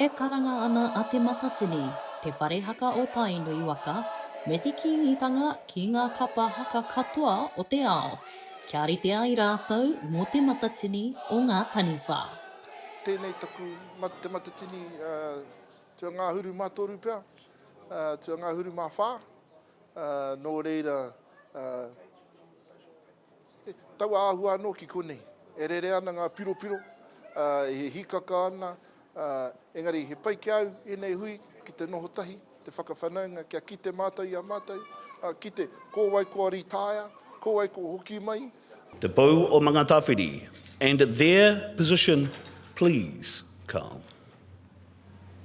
E karanga ana a Te Matatini, te whare haka o Tainui waka, me te Kīngitanga ki ngā kapa haka katoa o te ao, kia rite ai rātou mō Te Matatini o ngā taniwha. Tēnei taku Te Matatini tuangahuru mā toru pea, tuangahuru mā whā, Nō reira, he taua āhua anō ki konei. E rere ana ngā piropiro, e hīkaka ana, engari he pai ki a au ēnei hui ki te noho tahi, te whakawhanaunga kia kite mātou i a mātou, kite ko wai kua rītaea, ko wai kua hoki mai. Te Pou o Mangatawhiri and their position please, Carl.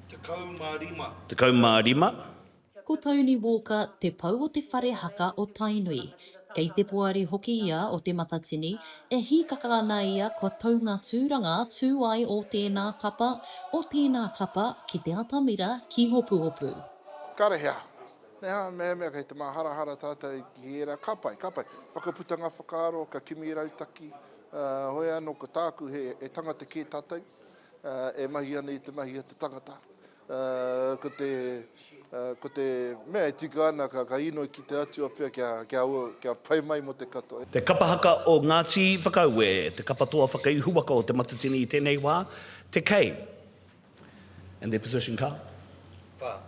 Tekau mā rima. Tekau mā rima. Ko Tony Walker te pou o te whare haka o Tainui. Kei te poari hoki ia o Te Matatini, e hīkaka ana ia kua tau ngā tūranga tū ai o tēnā kapa, o tēnā kapa ki te atamira, ki Hopuhopu. Kare he aha? He aha mehemea kei te māharahara tātou ki ērā kāpae, kāpae? Whakaputa ngā whakaaro, ka kimi rautaki, heoi anō ko tāku he tangata kē tātou, e mahi ana i te mahi a te tangata. Ko te mea e tika ana ka inoi ki te Atua pea kia pai mai mo te katoa. Te Kapa Haka o Ngāti Whakaue, te kapa toa whakaihu waka o Te Matatini i tēnei wā, te kei. And their position ka? Whā.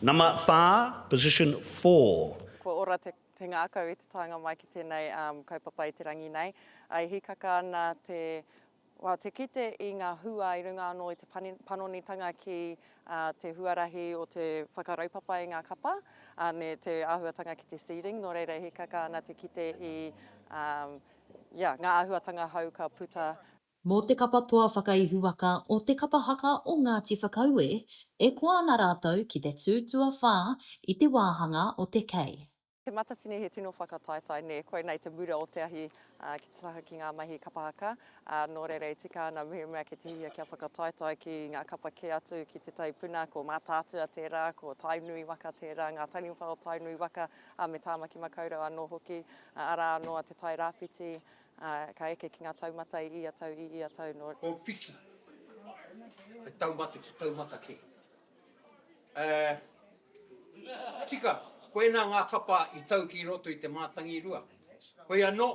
Nama whā, position four. Kua ora te ngākau i te taenga mai ki tēnei kaupapa i te rangi nei. E hīkaka ana te. Well, te kite i ngā hua i runga anō i te panonitanga ki te huarahi o te whakaraupapa i ngā kapa, me te āhuatanga ki te seeding, nō reira e hīkaka ana te kite i ngā āhuatanga hou ka puta. Mō te kapa toa whakaihuwaka o Te Kapa Haka o Ngāti Whakaue, e koa ana rātou ki te tū tuawhā i te wāhanga o te kei. Te Matatini he tino whakataetae nē, koinā i te mura o te ahi ki te taha ki ngā mahi kapa haka, ā, nō reira e tika ana mehemea kei te hia kia whakataetae ki ngā kapa kē atu ki te tai puna, ko Mātaatua tērā, ko Tainui waka tērā, ngā taniwha o Tainui waka, ā, me Tāmaki Makaurau anō hoki, ā, arā anō a Te Tai Rāwhiti, ā, ka eke ki ngā taumata i ia tau, i ia tau nō. Kōpiki, he taumata ki taumata kē. Ē, tika, koinā ngā kapa i tau ki roto i te mātangi rua. Hoi anō,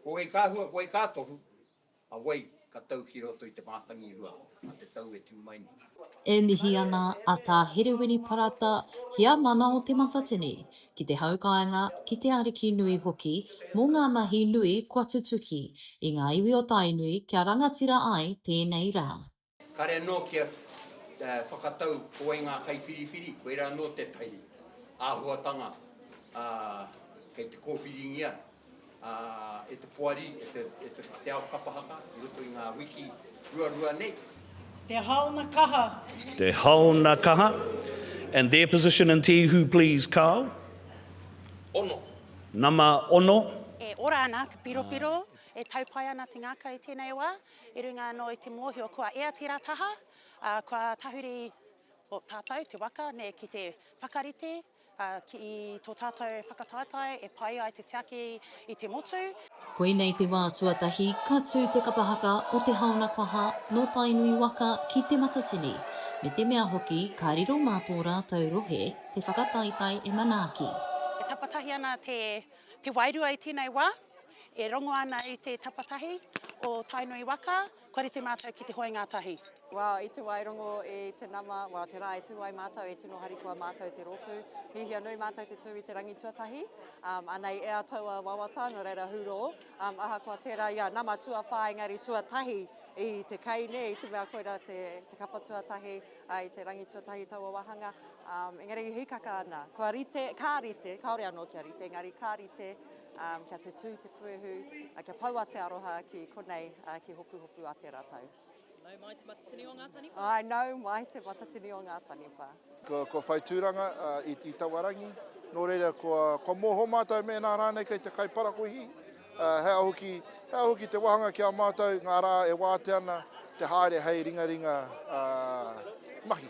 ko wai ka hua, ko wai ka tohu, a wai ka tau ki roto i te mātangi rua mā te tau e tū mai nei? E mihi ana a Tā Herewini Parata, Heamana o Te Matatini, ki te haukāinga, ki te ariki nui hoki, mō ngā mahi nui kua tutuki i ngā iwi o Tainui kia rangatira ai tēnei rā. Kare anō kia whakatau ko wai ngā kaiwhiriwhiri, koirā anō tētahi āhuatanga kei te kōwhiringia e te poari, e te ao kapa haka i roto i ngā wiki ruarua nei. Te haona kaha. Te haona kaha. And their position and Te Ihu please, Carl. Ono. Nama ono. E ora ana te piropiro, e tau pai ana te ngaka i tēnei wā. I runga anō i te mōhio kua ea tērā taha, ā, kua tahuri ō tātou te waka nei ki te whakarite ki tō tātou whakataetae e pai ai te tiaki i te motu. Koinei te wā tuatahi ka tū te kapa haka o Te Haona Kaha nō Tainui waka ki Te Matatini, me te mea hoki ka riro mā tō rātou rohe te whakataetae e manaaki. E tapatahi ana te wairua i tēnei wā. E rongo ana i te tapatahi o Tainui waka, kua rite mātou ki te hoe ngātahi. Wow, i te wā e rongo i te nama, wow, te rā e tū ai mātou, e tino harikoa mātou te rōpū. Hiahia nui mātou te tū i te rangi tuatahi, um, anei ea taua wawata, nō reira hurō, um, ahakoa tērā, ia, nama tuawhā engari tuatahi i te kei, nē, i te mea koira te, te kapa tuatahi, uh, i te rangi tuatahi taua wāhanga, um, engari hikaka ana, kua rite, ka rite, kāore anō kia rite, engari ka rite, Kia tutū te puehu, kia poua te aroha ki konei, ki Hopuhopu a tērā tau. Nau mai te matatini o ngā taniwha. Āe, nau mai te matatini o ngā taniwha. Kua whai tūranga i taua rangi, nō reira kua mōhio mātou mēnā rānei kei te kai parakuihi, he aha hoki, he aha hoki te wāhanga ki a mātou ngā rā e wātea ana te haere hei ringaringa mahi.